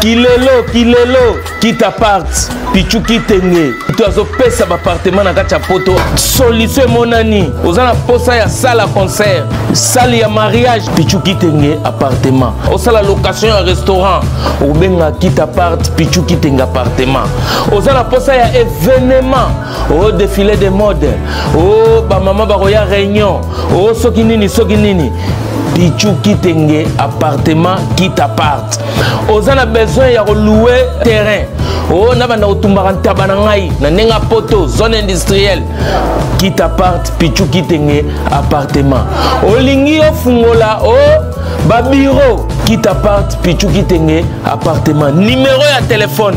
kilelo kilelo kita part pichu kitenge to azopesa bapartema na kati ya poto solution emonani oza na posa ya sala concert sale ya mariage pichu kitenge appartement osala location ya restaurant obenga kita part pichu kitenge appartement oza na posa ya evenema o défilé de mode o bamama bakoya réunion o soki nini soki nini pichu kitenge appartement kit appart oza na besoin ya koloue terrain o nabanda kotumbaka ntaba na ngai na ndenge ya poto zone industrielle kit appart pichu kitenge appartement olingi ofungola o babiro kit appart pichu kitenge appartement numero ya telefone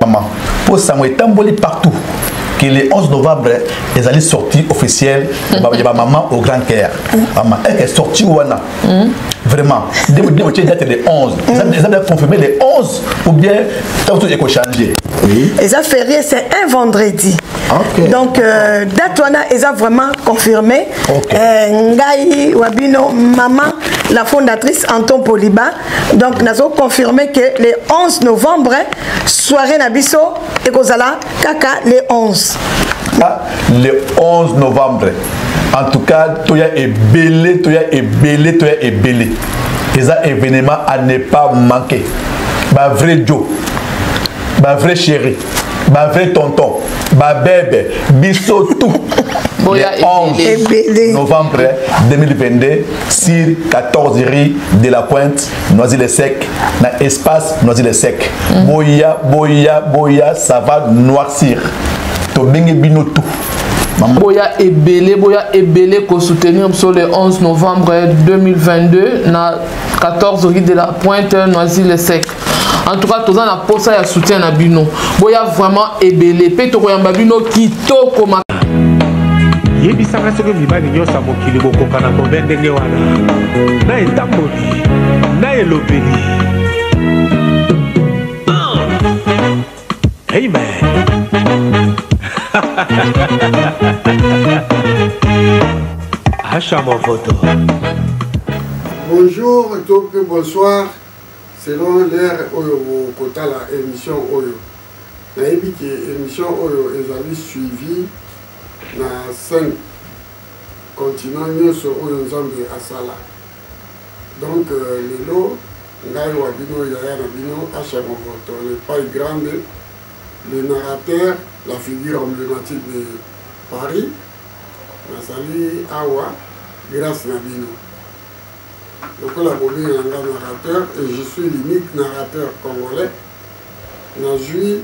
maman mpo sango etamboli partout que le 11 novembre ezali sortie officielle ya bamama au grand caire mama eke sortie wana vraiment nde modimo tie date le 11 eza bien confirmé le 11 ou bien ntango ekochange eza ferie c'est un vendredi Okay. donc euh, date wana eza vraiment confirmé okay. euh, ngai wa bino mama la fondatrice anton poliba donc nazo confirme que le 11 novembre soirée na biso ekozala kaka le 11 ah, le 11 novembre en tout cas toya ebele toya ebele toya ebele eza événement à ne pas manquer ba vrai joe ba vrai chéri ba vrai tonton ba bebe biso tout le 11 novembre 2022 sur 14 rue de la pointe noisy le sec na espace noisy le sec mm. boya boya boya ça va noircir tobengi bino tout boya ebele boya ebele kosoutenir biso le 11 novembre 2022 na 14 rue de la pointe noisy le sec en tout cas toza na posa ya soutien na bino boya vraiment ebele mpe tokoyamba bino kitoko ma yebisaka soki mibali nyonso ya mokili bokoka na kobe ndenge wana na etamboli na elobeli amen asha movoto bonjour to mpe bonsoir Selon l'heure oyo bokotala emission oyo, nayebi ke emission oyo ezali suivi na cinq continents nionso oyo Nzambe asala. Donc lelo ngai wa bino yaya na bino Asha Movoto le Pai Grande, le narrateur, la figure emblematique de Paris, nazali awa grace na bino. lokola bobenga nga narrateur et je suis l'unique narrateur congolais nazwi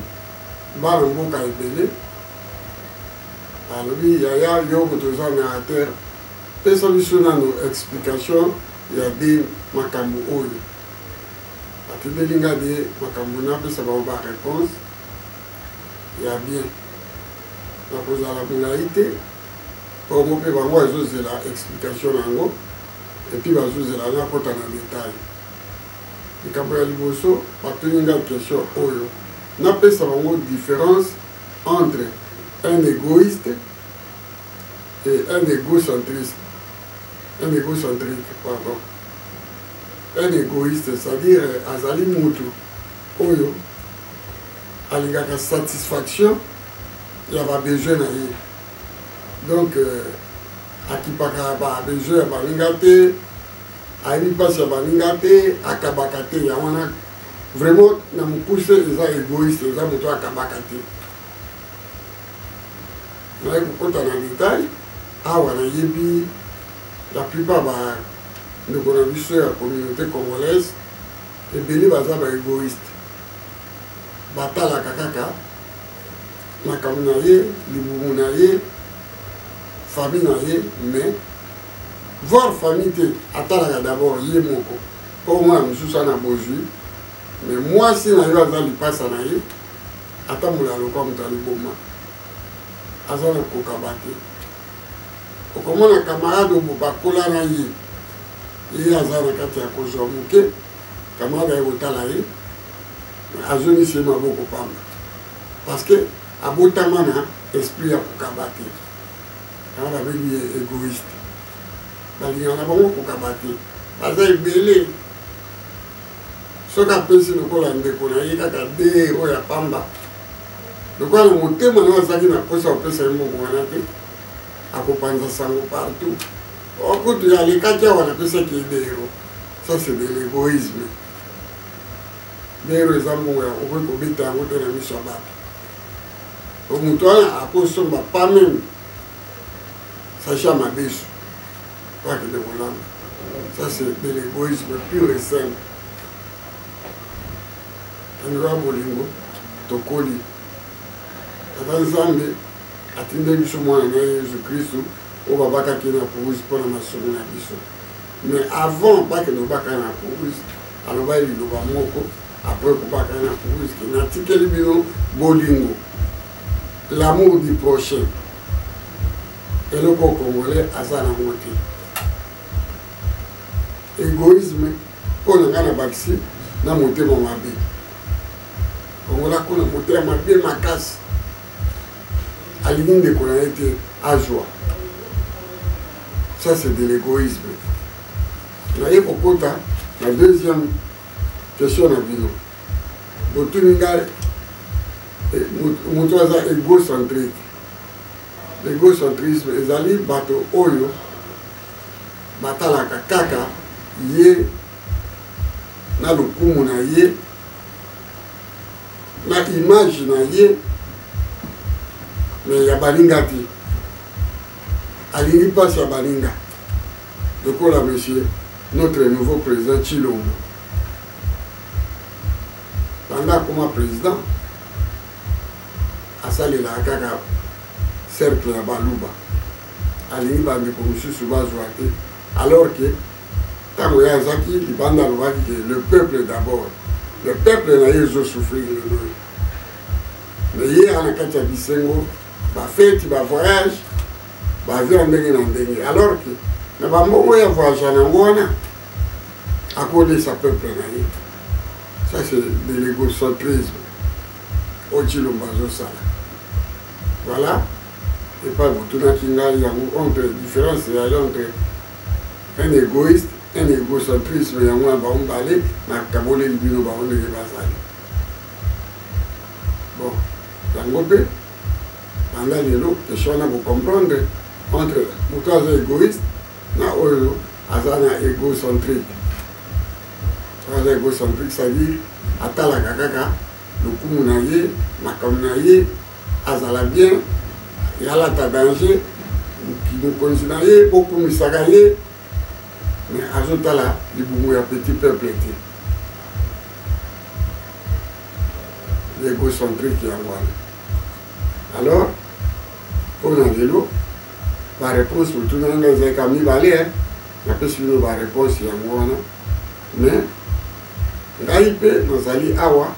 bana mboka ebele alobi yaya yo moto oza narrateur pesa biso nano explication ya de makambo oyo atindeli nga de makambo napesa bango ba réponse ya bien nakozala molai te bongo mpe bango ezozela explication na yango et puis bazozela na kota na detail likambo ya liboso batuni nga question oyo napesa bango différence entre un égoïste et un égocentriste un égocentrique pardon un égoïste c'est-à-dire euh, azali mutu oyo alingaka satisfaction ya babesoin na ye donc euh, akipaka ba besoin ya baninga te ayebi mpasi ya baninga te akabaka te ya wana vraiment na mokuse eza egoïste eza moto akabaka te naye kokota na detail awa nayebi la plupart ba ndeko na biso ya communauté congolaise ebele baza ba egoïste batalaka kaka makambo na ye libumu na ye famille na ye mais voir famille te atalaka d'abord ye moko mpo omwana mosusu ana bozwi mais mwasi na yo aza lipasa na ye atambola lokwa moto ya liboma aza na kokaba te okomona camarade obo bakola na ye ye aza na kati ya kozwa moke Camarade aye kotala ye azongisi ye maboko pamba parce que abotama na esprit ya kokaba te yango babengi ye egoïste balingaka na bango kokaba te baza ebele soki apesi lokola ndeko na ye kaka de oyo ya pamba lokola na motema nayo azalaki na mposa ya kopesa ye mbongo wana te akopanza sango partout okutu alekaki awa napesaki ye de hero Ça c'est de l'égoïsme. Bero eza mbongo ya kokoki kobeta yango te na miso ya bato. Po moto wana akosomba pas meme sacha madesu po akende kolanda. Ça c'est de l'égoïsme pur et simple. Tandika bolingo tokoli. Tata Nzambe atindeli biso mwana na ye Yesu Kristu oyo babakaki na kurusi mpo na masumu na biso. mais avant bakende kobaka na kuruzi alobaki liloba moko apres kobaka na kuruzi ke natikeli bino bolingo l'amour du prochain eloko congolais aza nango te egoïsme mpo na ngai na bakisi na motema mabe kongola kuna motema mabe makasi alingi ndeko na ye te azwa ça c'est de l'égoïsme naye kokota na deuxième question na bino botuni ngai eh, moto aza égocentrique l'égocentrisme ezali bato oyo batalaka kaka ye na lokumu na ye na image na ye me ya baninga te alingi mpasi ya baninga lokola monsieur notre nouveau président chilombo banda akoma président asalelaka kaka cercle ya baluba alingi bandeko mosusu bazwa te alors que ntango ye azaki libanda alobaki ke le peuple d'abord le peuple na ye ezosouffrir lelo me ye aa na kati ya bisengo bafeti bavoyage bavia ndenge na ndenge alors ke na bambongo ya voyage yango wana akolisa peuple na ye ça c'est de l'égocentrisme oyo cilombo azosala voilà epai botunaki ngai yango entre différence ya entre un egoiste un egocentrisme yango na bango mbale nakaboleli bino bango ndenge bazali bon yango mpe banda lelo question wana kocomprendre entre moto aza egoiste na oyo aza na egocentrique aza egocentrique c'est-à-dire atalaka kaka lokumu na ye makambo na ye azala bien yalata danger mokonzi na ye bokumisaka ye mais azotala libumu ya petit peuple te egocentrique yango wana alors mpo na lelo bareponse botuna nanga ezalaka mibale napesi bino bareponse yango wana mais ngai mpe nazali awa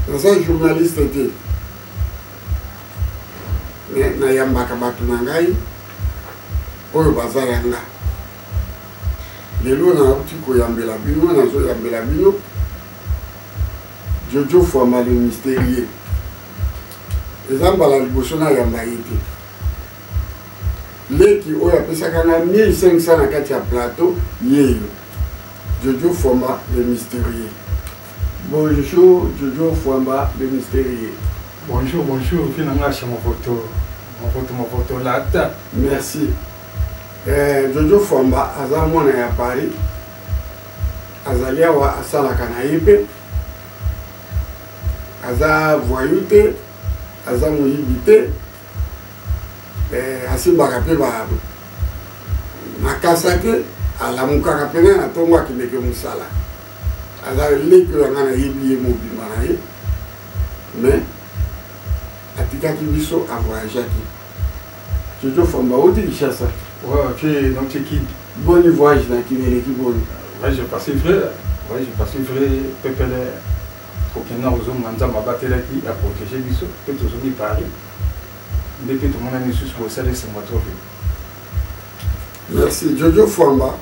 naza journaliste te me nayambaka bato na ngai oyo baza ya nga lelo nauti koyambela bino nazoyambela bino jojo fwamba le mysterieux eza mbala liboso nayamba ye te leki oyo apesaka nga 1500 na kati ya plateau yeyo jojo fwamba le mysterieux Bonjour Jojo Fwamba le mysterieux. Bonjour, bonjour, vie na nga chez Movoto. Movoto, Movoto, lata. Merci. Eh, Jojo Fwamba aza mwana ya Paris. Azali awa asalaka na ye mpe aza voyou te aza moyibi te eh, asimbaka mpe makasa te alamukaka mpena na ntongo akendeke mosala aza leki na ngai nayebi ye mobima na ye mais atikaki biso avoyageaki jojo famba oti kinshasa boni voyage na kini eleki boni voyage passé vrai voyage passé vrai pepele kokenda kozonga nzambe abatelaki ya protege biso mpe tozongi paris nde mpe tomonani lisusu kosala esengo trope merci jojo famba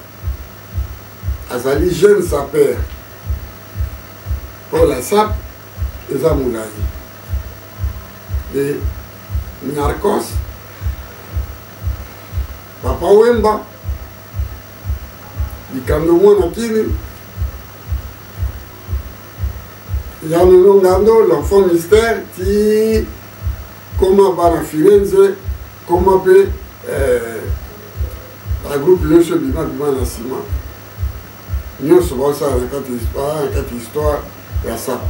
azali jeune sapeur mpo la sap eza molai e narcos papa wemba likambo mwana kini ya lelo ngando l'enfant mystère ti koma bana firenze koma mpe eh, Ba groupe nioso ebima bima na sima nioso baosala na kati histoire na kati histoire ya sapa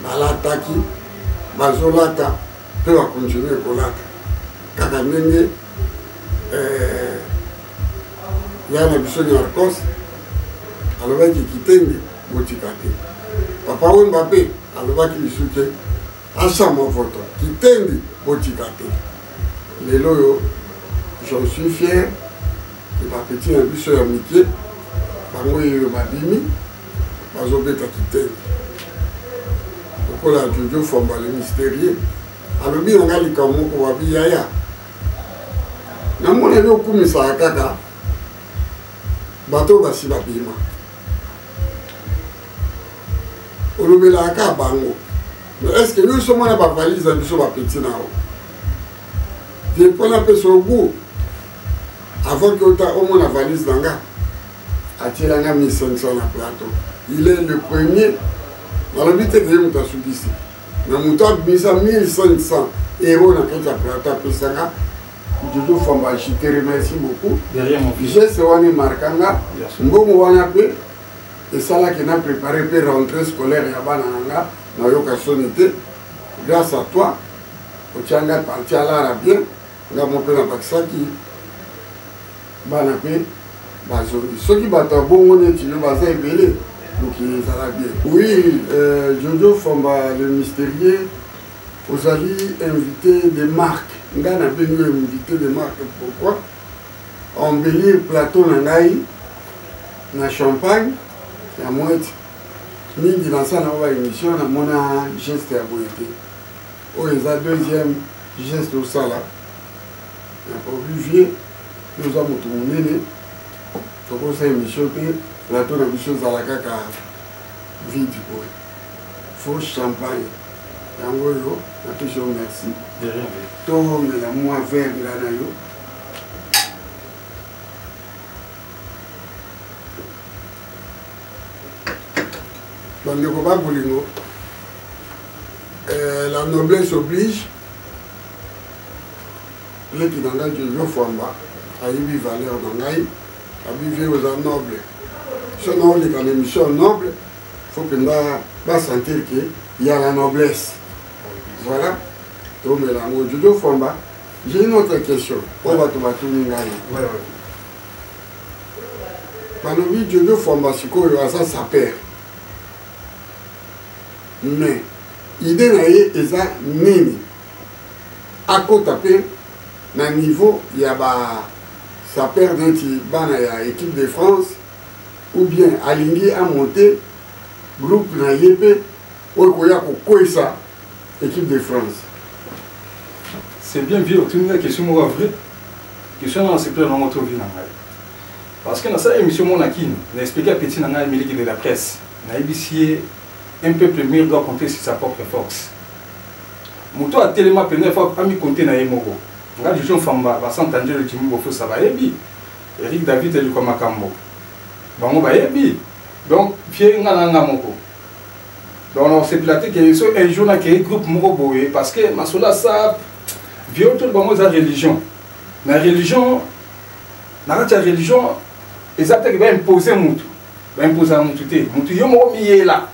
balataki bazolata mpe bakontinue kolata kaka ndenge eh, ya na biso nyarkos alobaki kitenge botika te papa wemba mpe alobaki lisusu te Ensemble votre kitendi botika te lelo oyo j'en suis fier que bapeti na biso ya mike bango yeyo babimi bazobeta kitendi lokola jojo fomba le mysterieux alobi na ngai likambo moko babi yaya namoneli okumisaka kaka bato basi babima olobelaka kaka bango est ce que biso mwana bavalise na biso bapeti na yo te mpo napesa ogu avant ke ota omona valise na nga atiela nga 1500 na plateau il est le premier nalobi te keye moto asukisi na moto abimisa 1500 euro na kati ya plateau apesanga Jojo Famba, je te remercie beaucoup. De rien, mon fils. Geste wana emarka nga, mbongo wana mpe esalaki na préparer mpe rentrée scolaire ya bana na nga nayoka soni te grâce à toi otya ngai parti alara bien nga mo mpe nabakisaki bana mpe bazongi soki bato ya bongo neti yo baza ebele mokili ezala bien oui euh, jojo famba le mystérieux Ozali invité de marque. Ngai nabengi yo invité de marque pourquoi? Embellir plateau na ngai na champagne ya mwete mingi naza na ba émission namona geste ya boye te oyo eza deuxième geste osala na produit vieux oza moto monene tokosa émission te plateau na biso ezala kaka vide boye faux champagne yango yo na toujours merci tomela mwa verre nga na yo bandeko ba bolingo euh, la noblesse oblige leki na ngai jojo fwamba ayebi valeur na ngai abivi oza noble soki naoleka na émission noble faut mpenza basentir ke ya la noblesse voilà tomela yango jojo fwamba j'ai une autre question oyo bato batuni ngai balobi jojo fwamba sikoyo aza saper mais idée na ye eza nini akota mpe na niveau ya ba saper neti bana ya équipe de france ou bien alingi a monter groupe na ye mpe oyo koya kokweyisa équipe de France c'est bien vieux otuni nga question moko ya vrai question wana nasepela nango to vi na ngai parce que nasala émission moko na kini na explike ya petit na ngai miliki de la presse nayebisi ye un peuple mur doit compter sur sa propre force moto atelema mpenza fo amikonte na ye moko nga jojo mfamba basanta njelo jimi bofosa bayebi Eric David eluka makambo bango bayebi donc vie nga na nga moko donc nakosepela te ke so un jour nakei groupe moko boye parce que masolo ya sap vie oyo toli bango eza religion na religion na kati ya religion eza te ke baimpose motu baimpozaka motu te motu yo moko miyela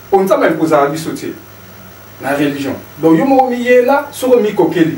mpo nzambe aimpozaka biso te na religion donc yo moko miyela soki omikokeli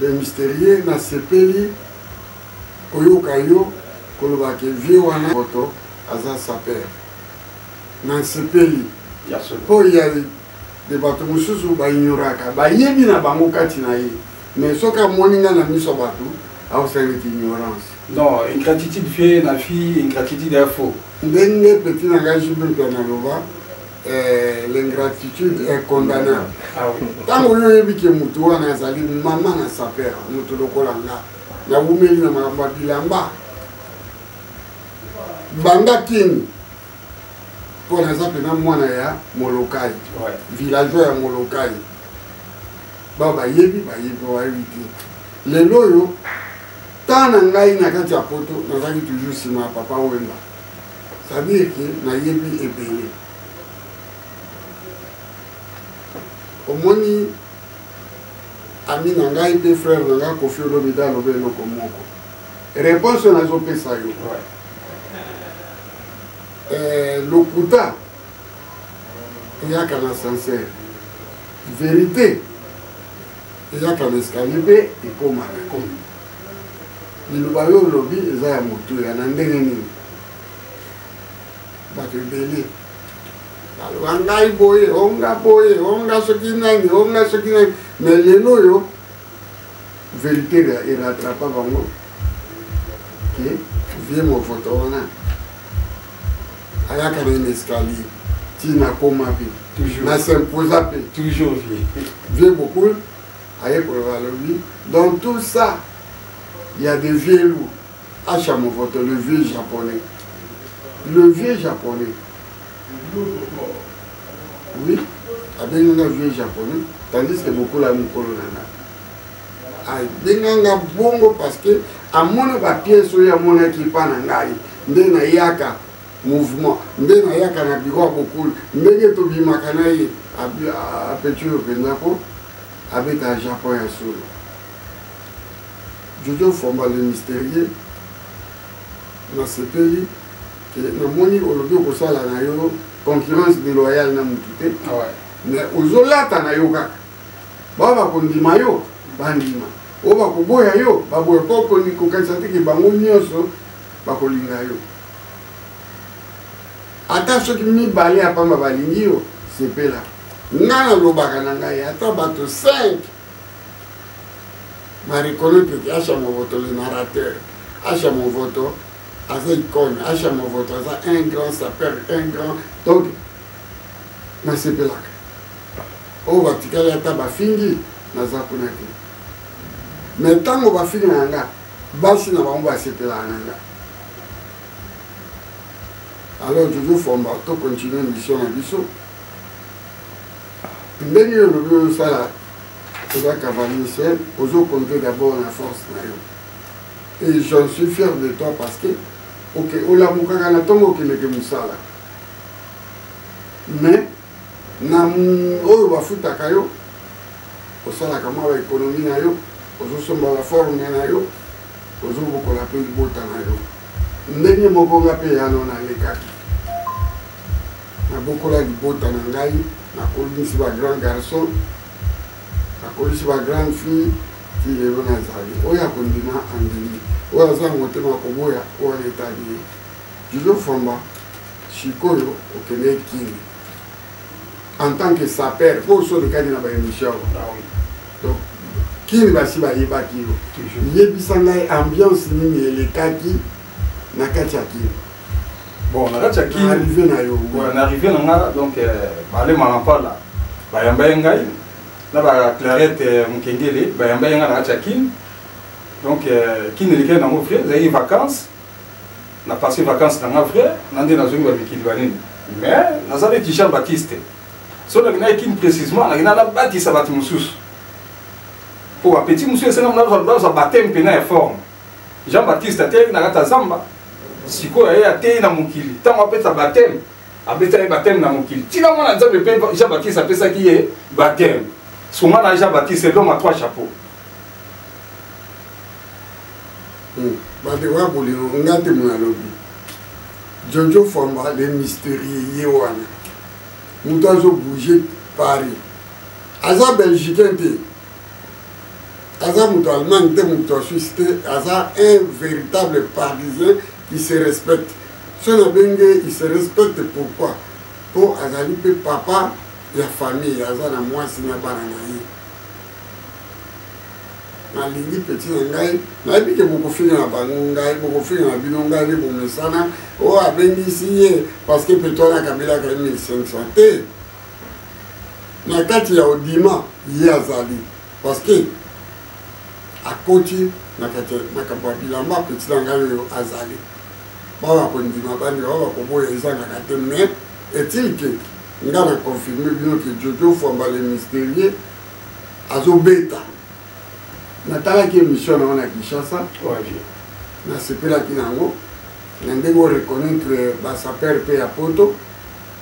Le mysterieux na sepeli koyoka yo koloba ke vieux wana moto aza saper na nsepeli mpo ya de bato mosusu baignoraka bayebi na bango kati na ye mais soki amoni ngai na miso ya bato aosaleti ignorance non ingratitude vie na vie ingratitude ya faux ndenge peti na ngai jibimpe analoba Eh, l'ingratitude est condamnable ntango ah oyo oyebi ke motu wana azali mama na saper motu lokola nga nawumeli na makambo ya bilamba banda kini mpo naza mpena mwana ya molokai villageois ya molokai bao bayebi bayebi bayebi te lelo oyo ntan na ngai na kati ya poto nazalaki toujours nsima ya papa wemba C'est-à-dire que nayebi ebele. Omoni ami na ngai mpe frère na ngai kofi olomide aloba eloko moko réponse oyo nazopesa yo eh, lokuta eyaka na sincère vérité eyaka na escalier mpe ekomaka liloba yo olobi eza ya motuya na ndenge nini bato ebele baloba ngai boye onga boye onga soki nani onga soki nani me lelo oyo verité eratrapa bango ke vie movoto wana ayaka na une escalier ti nakoma mpe na s'imposa mpe toujours vie vie bokul ayekola balobi dans tout ça il y a des vieux loups acha movoto le vieux japonais le vieux japonais oui abenganga vieux japonais tandis que bokola mokolo na nga abenganga bongo parce que amona bapiese oyo amonaki epa na ngai nde nayaka mouvement nde nayaka na biro ya bokulu ndenge tobimaka na ye apeture mpenza ko Abeta Japon ya solo. Jojo Fomba le mysterieux nasepeli ke namoni olobi okosala na yo concurrence deloyale na mutu te ah mais ozolata na yo kaka bao bakondima yo bandima oyo bakoboya yo baboya po kokanisa te ke bango nyonso bakolinga yo ata soki mibale ya pamba balingi yo sepela nga nalobaka na ngai ata bato 5 bareconnaitre que asha movoto le narrateur asha movoto aza icone asha movoto aza un grand sapeur un grand donc nasepelaka oyo oh, batikali ata bafingi naza kuna te me ntango bafingi na nga basi na bango basepelaka na nga alors toujours fomba to continue mission na biso ndenge yo olobi ozosala oza cavalier seul ozo compte d'abord na force na yo et j'en suis fier de toi parce que ok olamukaka na ntongo okendeke mosala mais na oyo bafutaka yo osalaka mwa baekonomi na yo ozosomba baforme na yo ozobokola mpe libota na yo ndenge moko nga mpe yano nalekaki Nabokola libota na ngai, nakolisi ba grand garçon, nakolisi ba grande fille, ti lelo nazali. Oyo akondima andimi, oyo aza na motema ya koboya, wana etali ye. Julio Famba, sikoyo okende Kin en tant que sapeur, po osodekani na ba emission donc kini basi bayebaki yo yebisa ngai ambiance nini elekaki na kati ya kini bon na kati ya kin arrivé na yo na arrivé na nga donc euh, bale malampala bayamba ye ngai na ba clarette euh, mokengele bayamba ye ngai na kati ya kin donc euh, kin elekeli nango vrai ezalaki vacances na passé vacances na nga vrai na nde nazongi bamikili banini mais naza neti jean baptiste so naki naye kin précisement naki na nabatisa bato mosusu mpo bapeti mosusu esengami nazwa bateme mpena ya forme jean baptiste atelemi na kati ya zamba sikoyo aye ateyi na mokili ntango apesa bateme abetaki ye bateme na mokili ntina mwana nzambe mpe jean baptiste apesaki ye bateme songa na jean baptiste eloma trois chapeau hmm. bandeko ya bolingo nga te moyo alobi jojo famba le mysterieux ye wana moto azobouge paris aza belgicain te aza moto allemagne te moto ya suisse te aza un véritable parisien qui se respecte so nabengi ye il se respecte pourquoi mpo azali mpe papa ya famille aza na mwasi na bana na ye nalingi peti na ngai nayebi ke bokofinga na bango ngai bokofinga na bino ngai nde bomesana oyo abengisi ye parce que petoana kabelaka ye 1500 te na kati ya odima ye azali parceke akoti na kati makambo ya bilamba apeti na ngai oyo azali bao bakondima bandima bao bakoboya ezangaka te mais est-il que nga na confirme bino ke jojo fwamba le mysterieux azobeta natalaki émission na yango na kinshasa nasepelaki na yango na ndenge oreconnaitre basaper mpe ya poto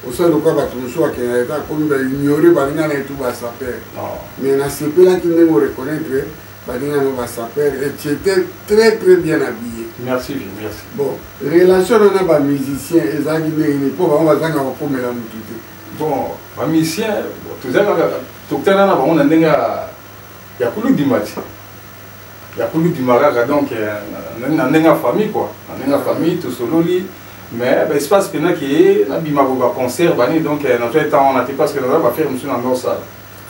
osali lokola bato mosusu bakenda leta akomi ba ignore baninga na ye tu basaper ah. mais nasepelaki ndenge oreconnaitre baninga no basaper et tu étais très très bien habillé merci merci bon relation na na bamusicien ezalaki ndenge nini mpo bango bazanga kokomela motu te bon bamusicien tozalaka tokutana na bango na ndenge ya kuludimati ya kulu bima kaka donc euh, na ndenge ya famille quoi na ndenge ya famille tosololi mais ba espace pena ke nabima ko ba concert bani donc euh, na toi temps on a te parce que na ba faire monsieur na ndor sala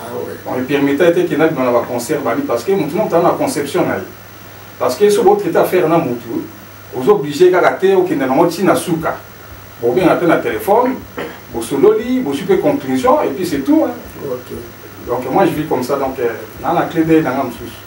ah ouais on me permettait te ke nabima na ba concert bani parce que mutu na tana conception na ye parce que so bo traiter affaire na mutu ozo obligé kaka te okende nango ti na suka bobenga mpe na telefone bosololi bozwi mpe conclusion et puis c'est tout hein. okay. donc moi je vis comme ça donc euh, na na clé de nanga mosusu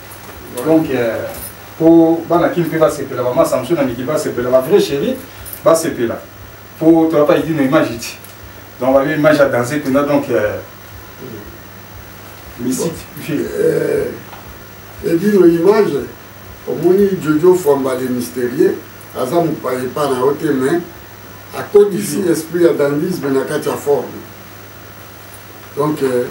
donc euh, po bana kin mpe basepela bama samson na miki basepela ba vrai chéri basepela po toya pa idino image ti donc babi image ya danse mpenza donc euh, misik edino euh, image omoni jojo fwamba le mystérieux aza mopaye epa na yo te mais akotisi esprit ya dandisme na kati ya forme Donc, euh,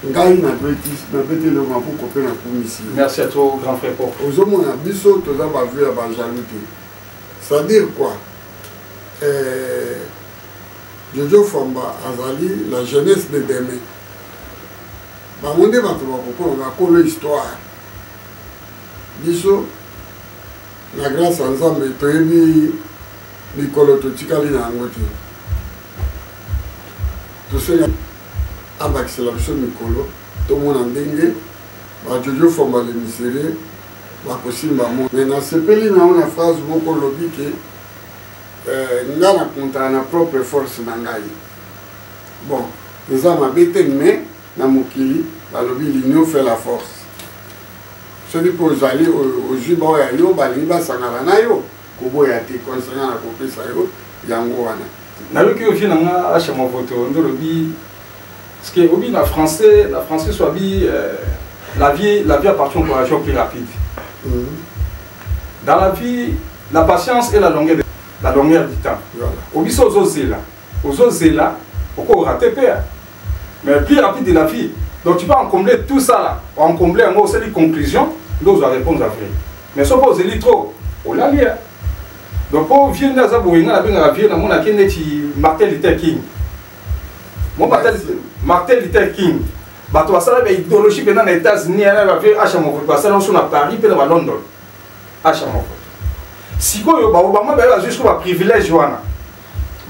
ngai nabeti nabeti eloko makuko mpe nakumisi merci à toi grand frère pop ozomona biso toza bavue ya bajaloux te c'est-à-dire quoi euh, jojo famba azali la jeunesse de demain bango nde bato bakokolo bakolo histoire biso na grâce ya nzambe toyebi mikolo totikali na yango te tosenga abakisela biso mikolo tomona ndenge bajojo fomba le miserie bakosimba mo me nasepeli na yo na phrase moko olobi ke eh, nga na kontana na propre force na ngai bon eza mabe te me na mokili balobi l'union fait la force soki mpe ozali ozwi baoyo ya yo balingi basangana na yo koboya te concernant na kopesa yo yango wana nayoki yo vie na nga asha mavoto nde olobi parceke obi na français na français so abi euh, la vie la vie appartient au courageux plus rapide mm -hmm. dans la vie la patience et la longueur de, la longueur du temps obi so ozozela ozo zela oko rate pea mais plus rapide de la vie donc tu peux encombler tout ça là encombler yango osali conclusion nde ozwa réponse ya vrai mais soki ozeli trop olali ya donc mpo vie nde aza boye ngai nabengaka vie namonaki neti martin luther king mo martin luther king bato basala baidéologie mpenza na états-unis yana bavie asha mokoto basala nso na paris mpe na balondon asha mokoto sikoyo baobama baye bazwi siko baprivilège wana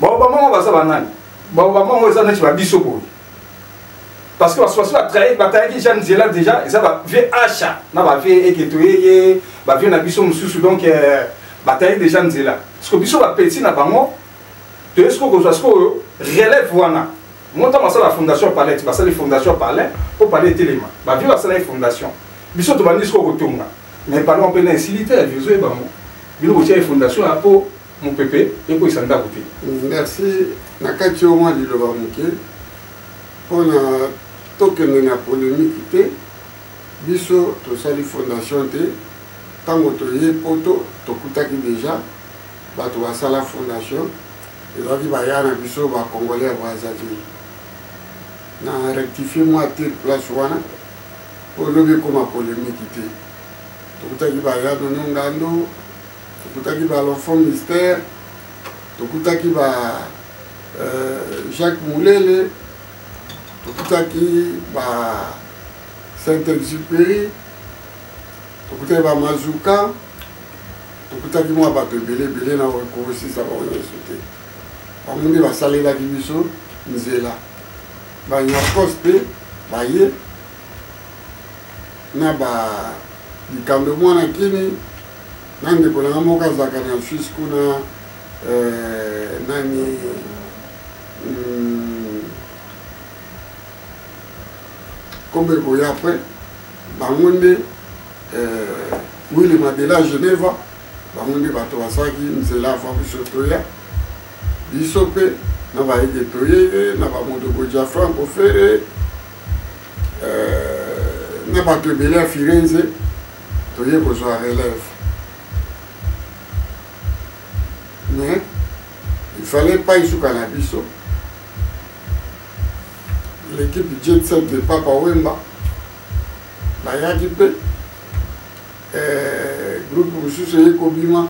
baoba moko baza banani baoba moko eza neti babiso boye parce que basusu basusu batraye batayaki jean nzela déjà eza bavie asha na bavie eketo yeye bavie na biso mosusu donc euh, bataye déjà nzela siko biso bapeti na bango toye siko kozwa sikoyo relève wana ngo ntango basala fondation palais basali fondation palais mpo palais etelema bavie basalaki fondation biso tobandi siko kotonga mais palais mpe na esili te ya vieux ebango bino botia ye fondation ya mpo mopepe ekweyisa ndako te merci na kati yo mwa liloba moke mpo na tokende na polemiki te biso tosali fondation te ntango toye poto tokutaki deja bato basala fondation ezalaki baya na biso bacongolais ya brazzaville na rectifie mwa te place wana mpo lobi ekoma polemiki te tokutaki baya nono ngando tokutaki ba l'enfant mystère tokutaki ba euh, jacques mulele tokutaki ba saint exupéry tokutaki ba mazuka tokutaki mwa bato ebele ebele na kokosisa bango nyonso te bango nde basalelaki biso nzela banyakos mpe baye na ba likambo mwana kini na ndeko na nga moko azalaka na suisse kuna euh, nani hmm, kombo ekoya apres bango nde euh, wili madela geneva bango nde bato basalaki nzela afa biso toya biso mpe na bayeke toyeye na bamodoko ja franco fere euh, na bato ebele ya firenze toye kozwa relève mais il fallait pas esuka na biso l'équipe jet set de papa wemba bayaki mpe eh, groupe mosusu eye kobima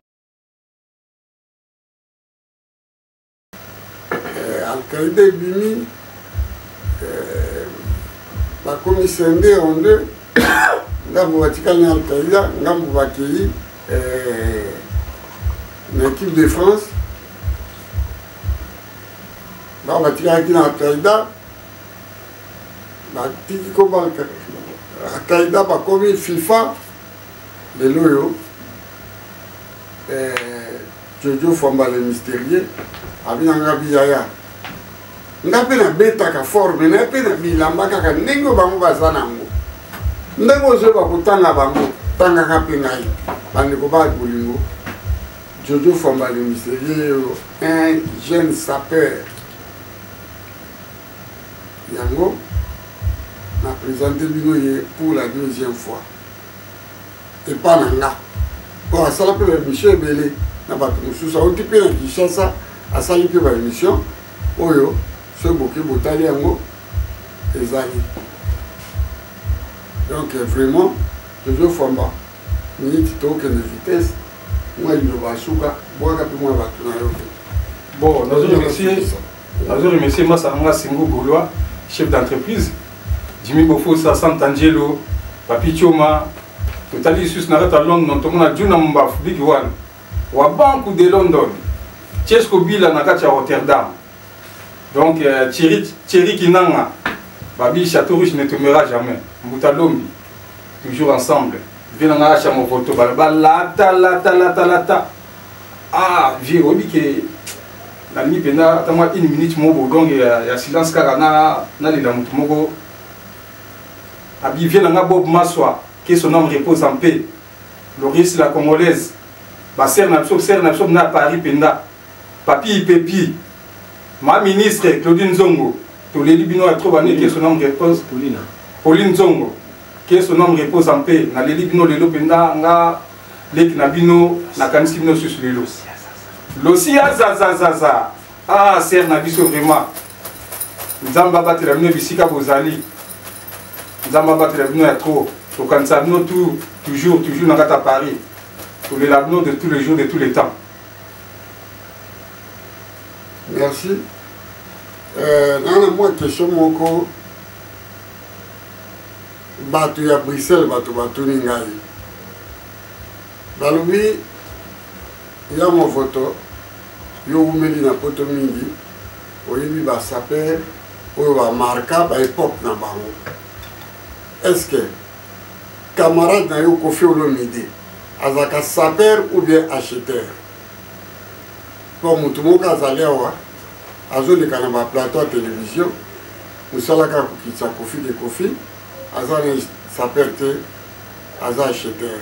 eh, alkaïda ebimi eh, bakomi sende en deux ngambo batikali na alkaïda ngambo bakei eh, na équipe de france ba batikalaki na alkaïda batiki koma alkaïda bakomi fifa lelo oyo eh, Jojo Fwamba le mysterieux abina nga biyaya nga mpe nabetaka fort me naye mpe na bilamba kaka ndenge oyo bango baza nango ndenge ozoyeba kotanga bango tangaka mpe ngai bandeko ba bolingo jojo fwamba le mysterieux oyo un jeune sapeur yango na présente bino ye pour la deuxième fois epa na nga po asala mpe baémission ebele na bato mosusu auti mpe na kinshasa asali mpe baémission oyo soki boke botali yango ezali donc vraiment tozofamba miniti tokende vitesse mwa liloba suka bwaka mpe mwa bato na yo te bon nazolobisa nazo remercier masa na nga singo golois chef d'entreprise jimi bofosa santa angelo papi choma totali lisusu na kati ya london tomona juna mombafu bigi wana wa banku de london chesco bila na kati ya rotterdam donc euh, cheri kinanga babi chateau rouge ne tombera jamais mbuta lombi toujours ensemble vie na ngai acha movoto balata lata lata lata ah vie oyebi ke na lingi mpenza ata mwa une minute moko bolonge ya, ya silence kaka na nalela moto moko abivie na nga bob maswa que son homme repose en paix loris la congolaise basere na biso sere na biso na paris mpenza papi ipepi ma ministre claudine zongo toleli bino ya trop bane que son homme repose pauline zongo que son homme repose en paix naleli bino lelo mpenza nga leki na bino nakanisi bino susu lelo losiya zazazaza ah ser na biso vraiment nzambe abatela bino bisika bozali nzambe abatela bino ya trop tokanisa bino tu toujours toujours na kati ya paris tolela bino de tous les jours de tous les temps merci euh, nana mwa question moko bato ya bruxelles bato batuni ngai balobi ya movoto yo owumeli na poto mingi oyebi basaper oyo bamarka baepoke na bango est ce que camarade na yo kofi olomide azalaka saper ou bien acheteur mpo motu moko azali awa azoleka na baplateau ya televizio Musala kaka kokitisa kofi de kofi aza na saper te aza acheteur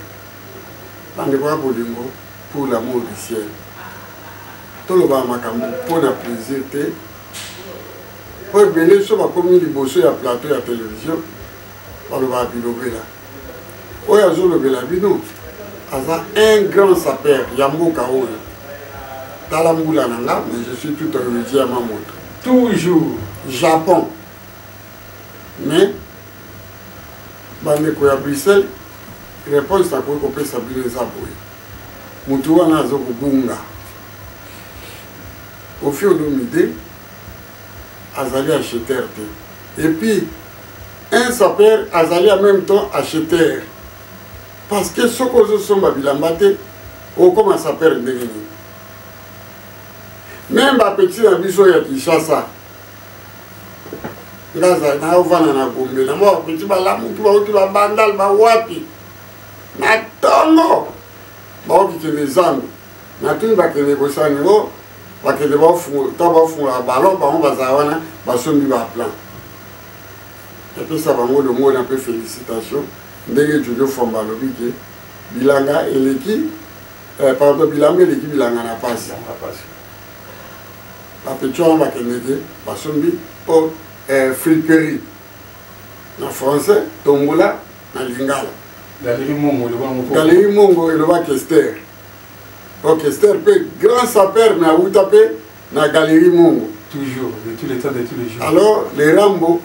bandeko ya bolingo pour l'amour du ciel tolobaka makambo mpo na plaisir te mpo ebele so bakomi liboso ya plateau ya televizio balobaka bilobela oyo azolobela bino aza un grand sapeur ya mboka oyo tala mbula na nga mais je suis tout enregi ya mamoto toujours japon mais bandeko ya bruxelles réponse nakoki kopesa bino eza boye motu wana azokobunga ofi olomide azali acheteur te et puis un sapeur azali en même temps acheteur parce que soki ozosomba bilamba te okoma sapeur ndenge nini meme bapeti na biso ya kinshasa ngaza naovanda na gombe na mwa bapeti balamuki bauti babandal bawapi na tongo baokikende zambi natuni bakende kosala ningo bakende ta bafungola balon bango bazala wana basombi baplan epesa bango longona mpe félicitation ndenge jojo fomba alobi ke bilanga eleki eh, pardon bilamba eleki bilanga na pasi bapeti wana bakendeke basombi mpo eh, friperie na français tombola na lingala galerie mongo elobaki ester ok ster mpe grand saper me awuta mpe na galerie mongo toujours de tous les temps de tous les jours alors le rambo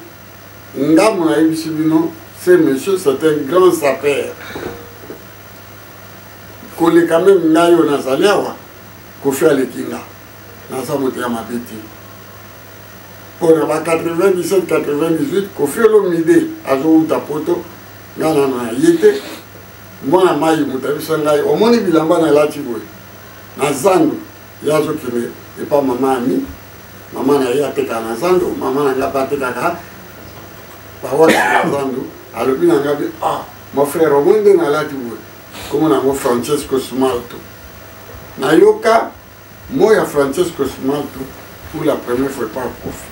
ngambo nayebisi bino ce monsieur c'est un grand saper koleka meme ngai oyo nazali awa kofi aleki nga naza moto ya mabe te mpo na ba 97 98 kofi olomide azowuta poto nga nano na ye te mwana mayi moto abisa ngai omoni bilamba nalati boye na zando ye azokende epa mama ami mama na ye atekaka na zando mama na ngai mpe atekaka bawaki na zando alobi na ngai ah mon frère omoni nde nalati boye komona yango francesco smalto nayoka Mot ya Francesco Smalto pour la première fois par profit.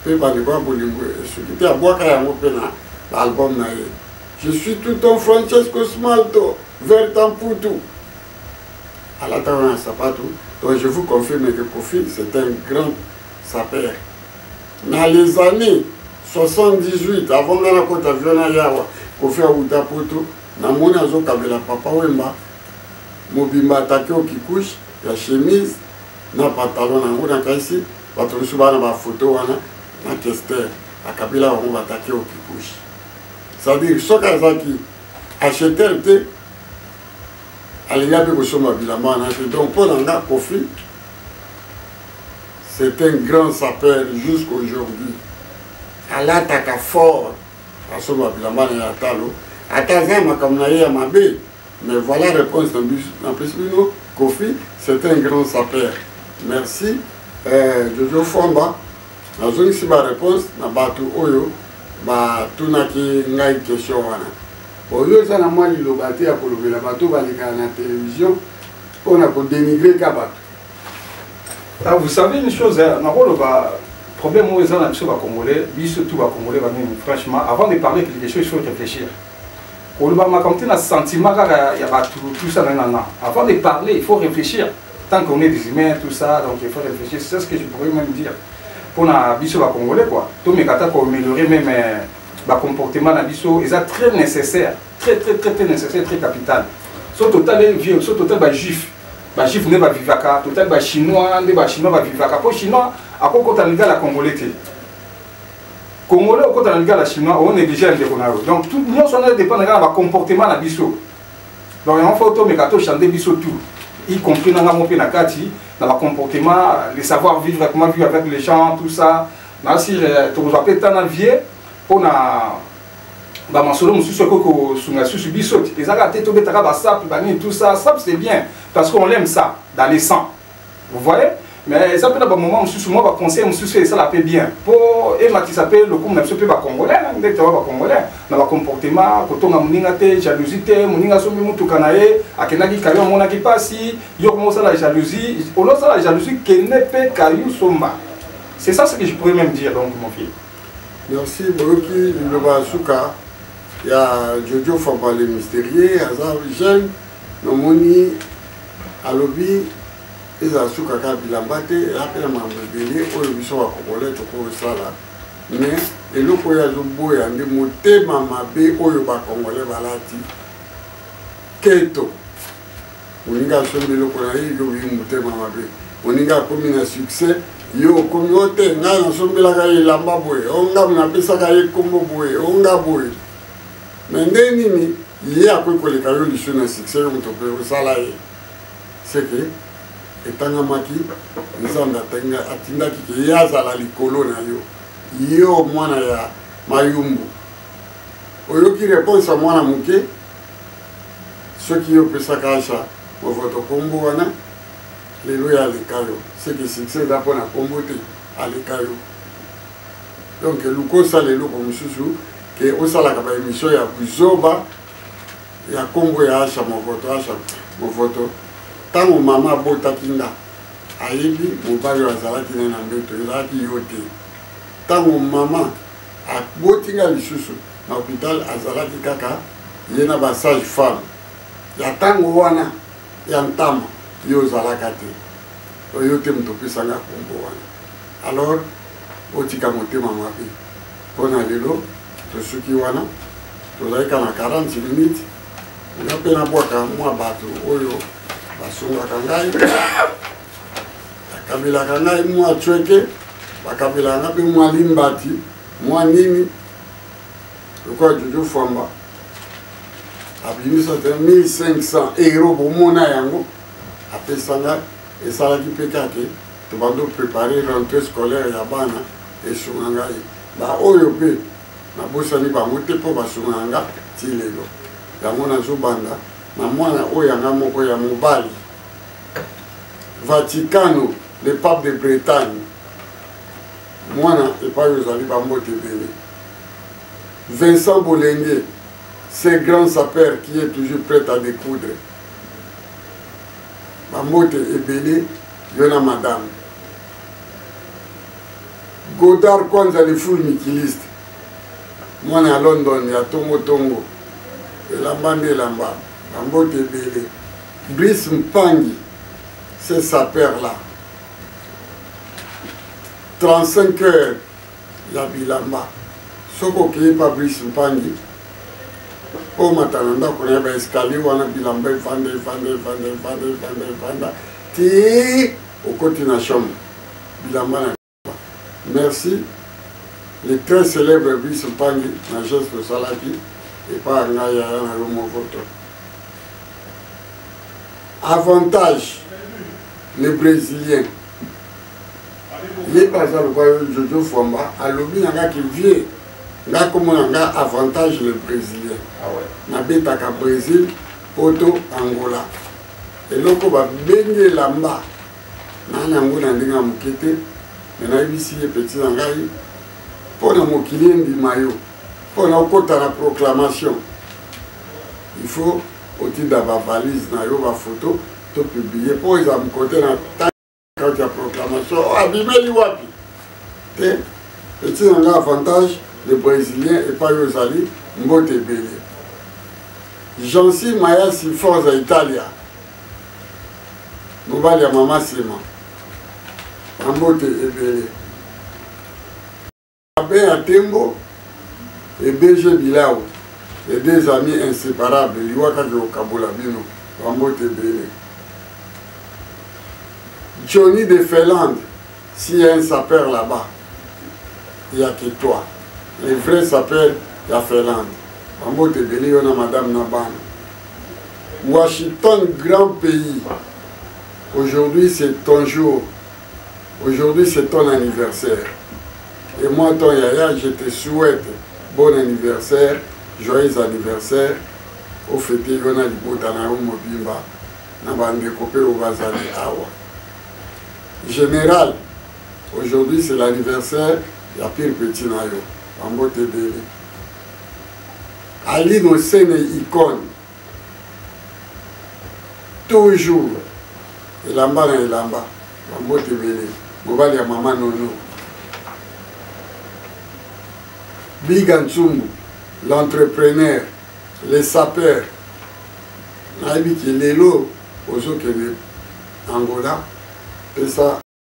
Pe bandeko ya bolingo esuki te abwaka yango pe na ba album na ye. Je suis tout ton Francesco Smalto, vert en putu. Alata wana sapatu. Donc je vous confirme que Kofi c'est un grand sapeur. Na les années 78 avant nga nakota viona yawa kofi awuta poto namoni azokabela papa wemba mobimba atake o kikush ya chemise na pantalon na yango na kaisi bato mosusu bana ba foto wana na kester akabila bango batake o kikush c'est-à-dire soki azalaki acheter te alingi mpe kosomba bilamba wana te donc mpo na nga kofi c'est un grand sapeur jusqu'aujourd'hui alataka fort asomba bilamba na ye ya talo ata aza makambo na ye ya mabe Mais voilà réponse na biso na pesi bino Kofi c'est un grand sapeur. Merci euh, Jojo Fomba nazongisi ba réponse na bato oyo batunaki ngai question wana oyo eza na mwa liloba te ya kolobela bato balekaka na télévision mpo na kodenigre ka bato ah, vous savez une chose nakoloba problème oyo eza na biso bacongolais biso tout bacongolais bamini franchement avant de parler quelque chose il faut réfléchir koloba makambo te na sentiment kaka ya bato tout ça nanana avant de parler il faut réfléchir tant qu'on est des humains tout ça donc il faut réfléchir c'est ce que je pourrais même dire mpo na biso bacongolais quoi tomeka ata koaméliorer même euh, bacomportement na biso eza très nécessaire très très très très nécessaire très capital so totali vieux so totali bajuif bajuif nde bavivaka totali bachinois nde bachinois bavivaka mpo chinois akokota na liga la congolais te congolais okota na lingala chinois o néglige ya ndeko na yo donc tout nyonso wana dépendre kaka na bacomportement na biso donc yango fo tomeka tochande biso tout y compris nanga mo mpe na kati na bacomportement le savoir vivre comment vivre avec les gens tout ça nasi euh, tokozwa mpe ntan na vie mpo na bamasolo mosusu ekoki kosunga susu biso te ezalaka te tobetaka basape banini tout ça sape c'est bien parce qu'on l'aime ça dans les sang Vous voyez mais eza mpe na bamoment mosusu mwa baconseil mosusu esala mpe bien mpo ematisa mpe lokumu na biso mpe bacongolais ndete wa bacongolais na bacomportement kotonga moninga te jalousie te moninga asombi motuka na ye akendaki kayo amonaki mpasi yo koma osala jalousie olosala jalousie kende mpe kayo somba c'est ça ce que je pourrais même dire donc mon fils merci boyoki liloba ya suka ya jojo fabale mysterieux aza jeune Namoni alobi ezala suka kaka bilamba te eza mpe na makambo ebele oyo biso bakokole tokosala me eloko oyo azoboya nde motema mabe oyo bakongole balati keto moninga asombi eloko na ye yo oyi motema mabe moninga akomi na succès yo okomi o te ngai nasombelaka ye elamba boye o ngai napesaka ye nkombo boye o ngai boye me nde nini ye akoki koleka yo lisu na succès yo moto mpe osala ye seke etangamaki nzambe atindaki ke ye azala likolo na yo yo mwana ya mayumbu oyoki reponse ya mwana moke soki yo opesaka asha movoto nkombo wana lelo ya aleka yo seke succès eza mpo na nkombo te aleka yo donc luka osala eloko mosusu ke osalaka ba emission ya buzoba ya kombo ya asha movoto asha movoto ntango mama abotaki nga ayebi mobali oyo azalaki naye na mbeto ezalaki yo te ntango mama aboti nga lisusu na hopital azalaki kaka ye na basage femme ya ntango wana ya ntama yo ozalaka te oyo te moto opesanga kombo wana alors otika motema mabe mpo na lelo tosuki wana tozali ka na 40 minute nga mpe nabwaka mwa bato oyo basungaka ngai bakabelaka ngai mwa cweke bakabelaka ngai mpe mwa limbati mwa nini lokola jojo fwamba abimisa te 1500 euro bomona yango apesa ngai esalaki mpe kake tobandi oprepare rentre scolaire ya bana esunga ngai baoyo mpe nabosani bango te mpo basungaka nga ti lelo yango nazobanda na mwana oyo yanga moko ya mobali vaticano le pape de bretagne mwana epai ozali bambote ebele vincent bolenge ce grand sapeur qui est toujours prêt à découdre bambote ebele Yo na madame. Godard kwanza le full mikiliste. Mwana ya London ya tongo tongo. Elamba nde elamba. Bambote ebele. Brice Mpangi. C'est sa père là. 35 heures ya bilamba soki okei Fabrice Mpangi omata na ndako na ye ba escalier wana bilamba evanda evanda evanda evanda evanda evanda ti okoti na chambre bilamba na merci le très célèbre Brice Mpangi na geste osalaki epa ngai yaya na yo moko to avantage les brésiliens ye baza lokwa yo jojo fwamba alobi na nga ki vie nga komona nga avantage le brésilien ah nabetaka brésil poto angola eloko babengi elamba naa na yango na ndenge ya moke te me nayebisi ye peti na ngai mpo na mokili endima yo mpo na okota na proclamation il faut otinda bavalise na yo bafoto to publie mpo eza mokote na kati ya proclamation oh, abimeli wapi te etina nga avantage le brésilien epai oyo ozali mbote ebele jansi mayasi forza italia mobali ya mama nsima na mbote ebele Abin ya Tembo et BG Bilao, les deux amis inséparables, liwa kaka kokabola bino, bambote ebele. Johnny de Finlande, s'il y a un sapeur là-bas, il n'y a que toi. Le vrai sapeur, il y a Finlande. Bambote ebele yo na madame na bana. Washington, grand pays. Aujourd'hui, c'est ton jour. Aujourd'hui c'est ton anniversaire. Et moi ton yaya je te souhaite bon anniversaire, joyeux anniversaire. Au fete yo na libota na yo mobimba na bandeko mpe oyo bazali awa. Général, aujourd'hui c'est l'anniversaire ya pire petit na yo. Bambote ebele. Aline Osene icône toujours elamba na elamba bambote ebele mobali ya mama nono biga ntsumbu l'entrepreneur le sapeur nayebi ke lelo ozokende angola pesa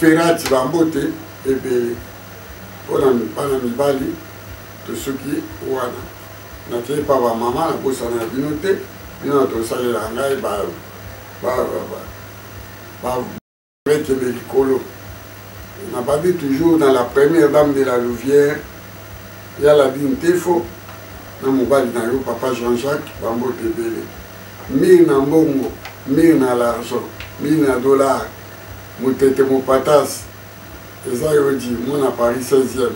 ferati bambote ebele mpo na bana mibali tosuki wana nakei pa bamama nabosana na bino te bino na tosalela ngai baekebe likolo nababi toujours na la première dame de la louvière ya labi ntefo na mobali na yo papa jean-jacques bambote ebele mire na mbongo mire na l'argent mire na dollar Mutete Mopatas eza yo di mwana Paris 16e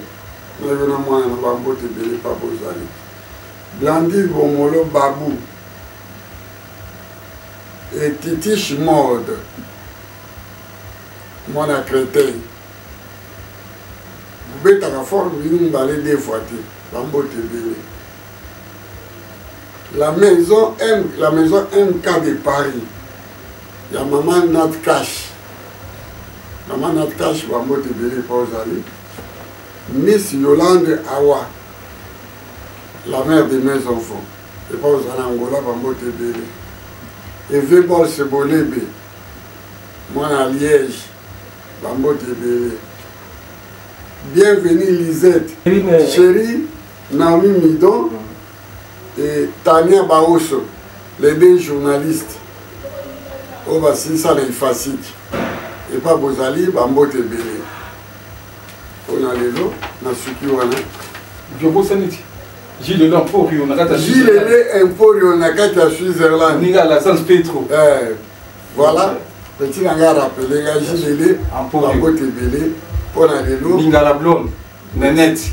na yo na mwana na ba mbote ebele pa bozali Blandine Bomolo Babu et Titish Mode mwana Creteil bobetaka fort bino mibale deux fois te ba mbote ebele la maison M, la maison MK de Paris ya mama nat cash mama nat cash bambote ebele epa ozali miss yolande awa la mère de mes enfants epa ozali angola bambote ebele eve bolse bolebe mwana ya liège bambote ebele bienvenue lisette chérie naomi midon et Tania Baoso les deux journalistes oyo oh, basilisa na ifasiki epa bozali bambote ebele mpo na lelo nasuki wana jobosani ti Gilles Emporio na kati ya Gilles Emporio na kati ya Switzerland ninga la San Petro eh voilà petit na nga rappeler nga Gilles Emporio bambote ebele mpo na lelo Ningala Blonde Nenette